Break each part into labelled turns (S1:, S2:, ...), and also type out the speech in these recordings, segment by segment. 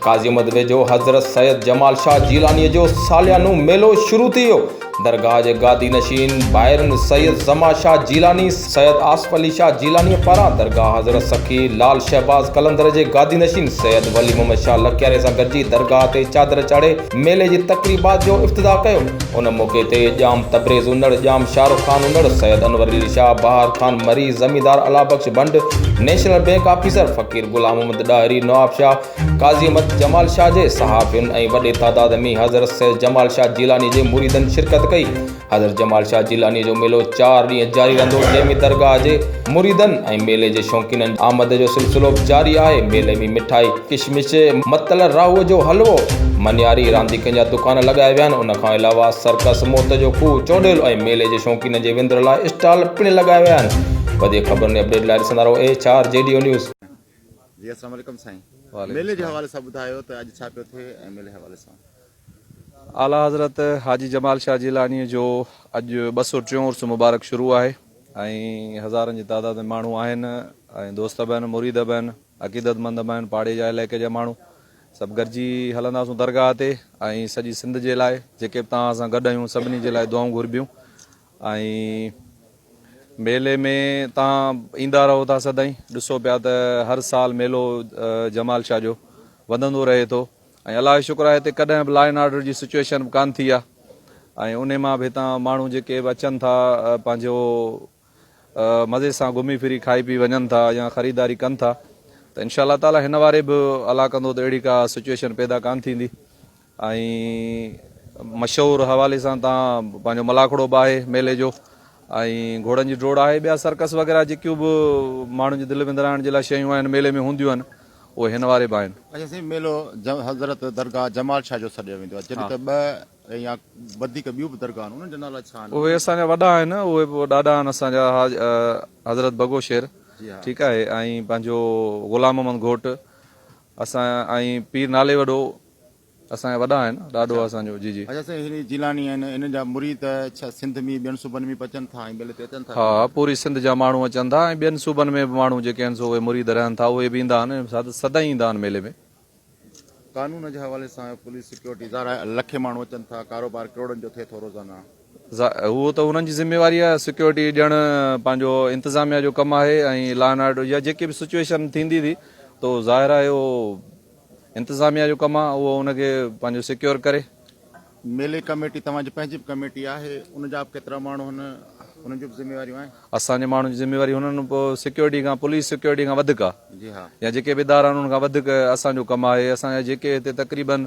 S1: قاضي مدوي جو حضرت سيد جمال شاهه جيلانيء جو ساليانو ميلو شروع ٿي ويو. درگاهه جي گادي نشين ڀائرن سيد زما شاهه جيلاني، سيد آصف علي شاهه جيلانيء پاران درگاهه حضرت سخي لعل شهباز قلندر جي گادي نشين سيد ولي محمد شاهه لڪياري سان گڏجي درگاهه تي چادر چاڙهي ميلي جي تقريبات جو افتتاح ڪيو ان موقعي تي ڄام تبريز انڙ ڄام شاهرخ خان انڙ سيد انور علي شاهه بهار خان مري زميندار Allah Bakhsh Bhand national bank officer Faqir Ghulam Muhammad Dahri Nawab Shah Qazi Ahmed Jamal Shah جي صحافين ۽ وڏي تعداد ۾ حضرت سيد جمال شاهه جيلاني جي مريدن شرڪت ڪئي حضرت جمال شاهه جيلانيء جو ميلو چار ڏينهن جاري رهندو، جنهن ۾ درگاهه جي مريدن ۽ ميلي جي شوقينن جي آمد جو سلسلو به جاري آهي. ميلي ۾ مٺائي، ڪشمش، متل، راهوء جو حلوو، مڃاري، رانديڪن جا دڪان لڳايا ويا آهن. ان کان علاوه سرڪس، موت جو کوهه، چوڏيل ۽ ميلي جي شوقينن جي وندر لاء اسٽال پڻ لڳايا ويا آهن. وڌيڪ خبرن ۽ اپڊيٽ لاء ڏسندا رهو H R G D O news. جي اسلام
S2: عليڪم سائين ميلي جي حوالي سان ٻڌايو ته اڄ ڇا پيو ٿئي ۽ ميلي حوالي سان اعليٰ
S3: حضرت حاجي جمال شاهه جيلانيء جو اڄ ٻه سؤ ٽيون عرس مبارڪ شروع آهي ۽ هزارن جي تعداد ۾ ماڻهو آهن ۽ دوست به آهن مريد به آهن عقيدت مند به آهن پاڙي جا علائقي جا ماڻهو سڀ گڏجي هلنداسون درگاهه تي ۽ سڄي سنڌ جي لاء جيڪي به توهان سان گڏ آهيون سڀني جي لاء دعائون گهربيون ۽ ميلي ۾ تان ايندا رهو ٿا سدائين ڏسو پيا ته هر سال ميلو جمال شاهه جو وڌندو رهي ٿو ۽ الله جو شڪر آهي هتي ڪڏهن به لا اينڊ آرڊر جي سچوئيشن به ڪانه ٿي آهي ۽ انهي مان به هتان ماڻهو جيڪي به اچن ٿا پنهنجو مزي سان گهمي ڦري کائي پي وڃن ٿا يا خريداري ڪن ٿا ته انشاء الله تعالي هن واري به الله ڪندو ته اهڙي ڪا سچوئيشن پيدا ڪانه ٿيندي ۽ مشهور حوالي سان تان پنهنجو ملاکڙو به آهي ميلي جو ۽ گهوڙن جي ڊوڙ آهي ٻيا سرڪس وغيره جيڪيون به ماڻهن جي دل وندرائڻ جي لاء شيون آهن ميلي ۾ هونديون آهن اهي هن واري به آهن. اچا سائين ميلو
S2: حضرت درگاهه جمال شاهه جو سڏيو ويندو آهي جڏهن ته ٻه يا وڌيڪ ٻيون به درگاهه آهن انهن جا نالا ڇا آهن؟ اهي اسان جا وڏا آهن
S3: اهي به ڏاڏا آهن اسان جا حضرت بگو شير ٺيڪ آهي ۽ پنهنجو غلام محمد گهوٽ اسان ۽ پير نالي وڏو اسان جا وڏا آهن ڏاڏو آهي اسان جو جي جي. اچا سائين هي جي جيلاني آهن
S2: انهن جا مريد ڇا سنڌ مي ٻين صوبن مي به اچن ٿا ۽ ميلي تي اچن ٿا ها ها پوري سنڌ جا ماڻهو
S3: اچن ٿا ۽ ٻين صوبن ۾ به ماڻهو جيڪي آهن سو اهي مريد رهن ٿا اهي به ايندا آهن ۽ سدائين ايندا آهن ميلي ۾. قانون
S2: جي حوالي سان پوليس سيڪيورٽي ظاهر آهي لکين ماڻهو اچن ٿا ڪاروبار ڪروڙن جو ٿئي ٿو روزانه. اهو
S3: ته انهن جي ذميواري آهي سيڪيورٽي ڏيڻ پنهنجو انتظاميا جو ڪم آهي ۽ لا اينڊ آرڊر جا جيڪي به سچوئيشن ٿيندي ٿي تو ظاهر آهي اهو انتظاميا جو ڪم آهي اهو ان کي پنهنجو سيڪيور ڪري. ميلي
S2: ڪميٽي توهان جي پنهنجي به ڪميٽي آهي ان جا به ڪيترا ماڻهو هن انهن جون به ذميواريون آهن. اسان جي ماڻهن جي ذميواري
S3: هنن سيڪيورٽي کان پوليس سيڪيورٽي کان وڌيڪ آهي يا جيڪي به ادارا
S2: آهن انهن کان
S3: وڌيڪ اسان جو ڪم آهي اسان جا جيڪي هتي تقريبن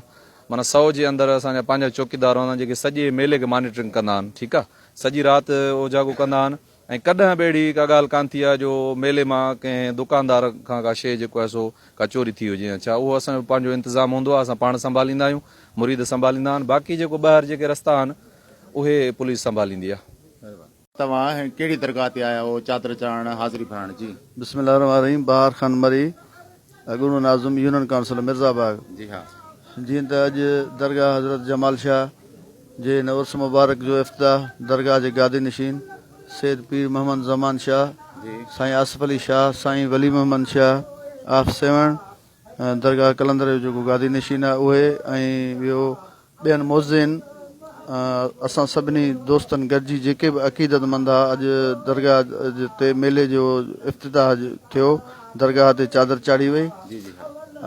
S3: معنيٰ سئو جي اندر اسان جا پنهنجا چوڪيدار هوندا آهن جيڪي سڄي ميلي کي مانيٽرنگ ڪندا آهن ٺيڪ آهي سڄي رات اوجاڳو ڪندا آهن. ۽ ڪڏهن به اهڙي ڪا ڳالهه ڪانه ٿي آهي جو ميلي مان ڪنهن دڪاندار کان ڪا شيء جيڪو آهي سو ڪا چوري ٿي هجي يا ڇا اهو اسان جو پنهنجو انتظام هوندو آهي اسان پاڻ سنڀاليندا آهيون مريد سنڀاليندا آهن باقي جيڪو ٻاهر جيڪي رستا آهن اهي پوليس سنڀاليندي آهي. توهان
S2: ڪهڙي درگاهه تي آيا هئو چادر چڙهائڻ حاضري ڀرڻ جي؟ بسم الله الرحمٰن الرحيم
S4: بهار خان مري. اڳوڻو ناظم يونين ڪائونسل مرزا باغ
S2: جيئن ته اڄ
S4: درگاهه حضرت جمال شاهه جي هن عرس مبارڪ جو افتتاح درگاهه جي گادي نشين سيد پير محمد زمان شاهه سائين آصف علي شاهه سائين ولي محمد شاهه آف سيوهڻ درگاهه قلندر جو جيڪو گادي نشين آهي اهي ۽ ٻيو ٻين معززين اسان سڀني دوستن گڏجي جيڪي به عقيدت مند ها اڄ درگاهه تي ميلي جو افتتاح ٿيو درگاهه تي چادر چاڙهي وئي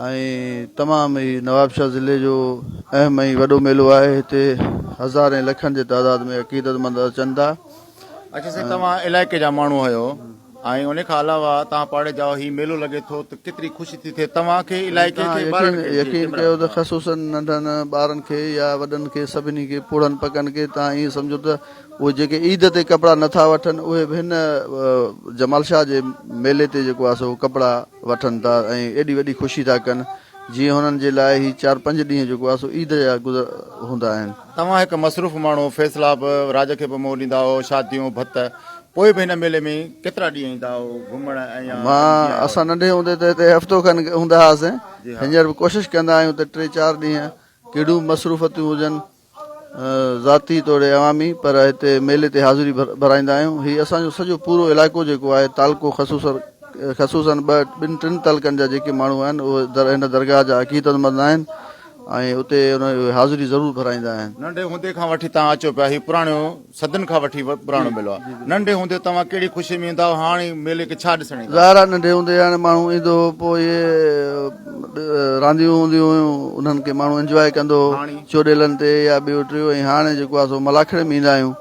S4: ۽ تمام هي نوابشاهه ضلعي جو اهم ۽ وڏو ميلو آهي هتي هزارين لکن جي تعداد ۾ عقيدت مند اچن ٿا اچي سر
S2: توهان علائقي جا ماڻهو آهيو ۽ ان کان علاوه توهان پاڙي جاء هي ميلو لڳي ٿو ته ڪيتري خوشي ٿي ٿئي توهان کي علائقي کي ٻارڙن کي يقين ڪيو ته
S4: خصوصا ننڍن ٻارن کي يا وڏن کي سڀني کي پوڙهن پڪن کي توهان ائين سمجهو ته اهي جيڪي عيد تي ڪپڙا نٿا وٺن اهي به هن جمال شاهه جي ميلي تي جيڪو آهي سو ڪپڙا وٺن ٿا ۽ ايڏي وڏي خوشي ٿا ڪن جيئن هنن جي لاء هي چار پنج ڏينهن جيڪو آهي سو عيد جا گذر هوندا آهن. توهان هڪ مصروف
S2: ماڻهو، فيصلا به راڄ کي به منهن ڏيندا آهيو، شاديون، ڀت، پوء به هن ميلي ۾ ڪيترا ڏينهن ايندا آهيو گهمڻ ۽ يا مان، ڏينهن جيان اسان هوندي؟ ننڍي
S4: هوندي ته هتي هفتو کن هوندا هئاسين، جي ها. هينئر به ڪوشش ڪندا آهيون ته ٽي چار ڏينهن ڪهڙيون به مصروفتيون هجن ذاتي توڙي عوامي پر هتي ميلي تي حاضري ڀرائيندا آهيون، هي اسان جو سڄو پورو علائقو جيڪو آهي تعلقو خصوصر خصوصن ٻه ٻن ٽن تعلقن جا جيڪي ماڻهو آهن اهي هن درگاهه جا عقيدتمند آهن، ۽ اتي انهن جي حاضري ضرور ڀرائيندا آهن. ننڍي هوندي کان وٺي
S2: توهان اچو پيا هي پراڻو صدين کان وٺي پراڻو ميلو آهي ننڍي هوندي توهان ڪهڙي خوشي ۾ ايندا هئا هاڻ هي ميلي کي ڇا ڏسڻ ايندا. ظاهر آهي ننڍي هوندي هاڻي
S4: ماڻهو ايندو هو پوء اهي رانديون هونديون هيون انهن کي ماڻهو انجواء ڪندو هو چوڏيلن تي يا ٻيو ٽيو ۽ هاڻي جيڪو آهي سو ملاکڙي ۾ ايندا آهيون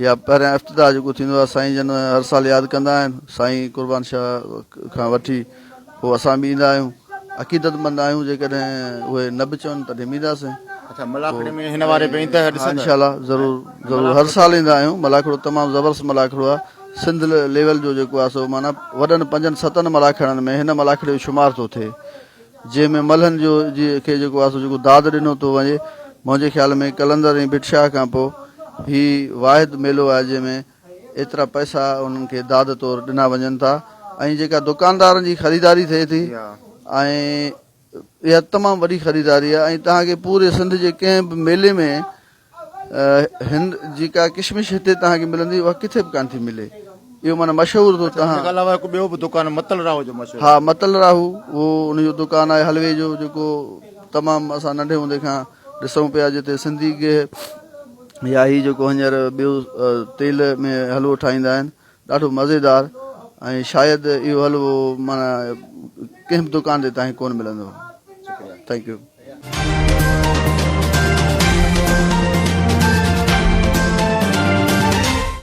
S4: يا پهريان افتتاح جيڪو ٿيندو آهي سائين جن هر سال ياد ڪندا آهن سائين قربان شاهه کان وٺي پوء اسان به ايندا آهيون. عقيدت مند آهيون جيڪڏهن اهي نه به چون تڏهن به اينداسين. اچا ملاکڙي
S2: ۾ هن واري به ايندا ڏسندا. ها انشاء الله ضرور
S4: ضرور هر سال ايندا آهيون ملاکڙو تمام زبردست ملاکڙو آهي سنڌ ليول جو جيڪو آهي سو معنيٰ وڏن پنجن ستن ملاکڙن ۾ هن ملاکڙي جو شمار ٿو ٿئي جنهن ۾ ملهن جو جي کي جيڪو آهي سو جيڪو داد ڏنو ٿو وڃي منهنجي خيال ۾ قلندر ۽ ڀٽ شاهه کان پوء هي واحد ميلو آهي جنهن ۾ ايترا پئسا انهن کي داد طور ڏنا وڃن ٿا ۽ جيڪا دڪاندارن جي خريداري ٿئي ٿي ۽ اها تمام وڏي خريداري آهي ۽ توهان کي پوري سنڌ جي ڪنهن به ميلي ۾ هند جيڪا ڪشمش هتي توهان کي ملندي اها ڪٿي به ڪانه ٿي ملي اهو معنيٰ مشهور اٿو توهان ان کان علاوه هڪ ٻيو به دڪان
S2: متل راهو جو مشهور ها متل راهو
S4: اهو ان جو دڪان آهي حلوي جو جيڪو تمام اسان ننڍي هوندي کان ڏسون پيا جتي سنڌي گيهه يا هي جيڪو هينئر ٻيو تيل ۾ حلوو ٺاهيندا آهن ڏاڍو مزيدار ۽ شايد اهو حلوو معنيٰ ڪنهن به دڪان تي تاهين ڪونه ملندو ٿينڪ يو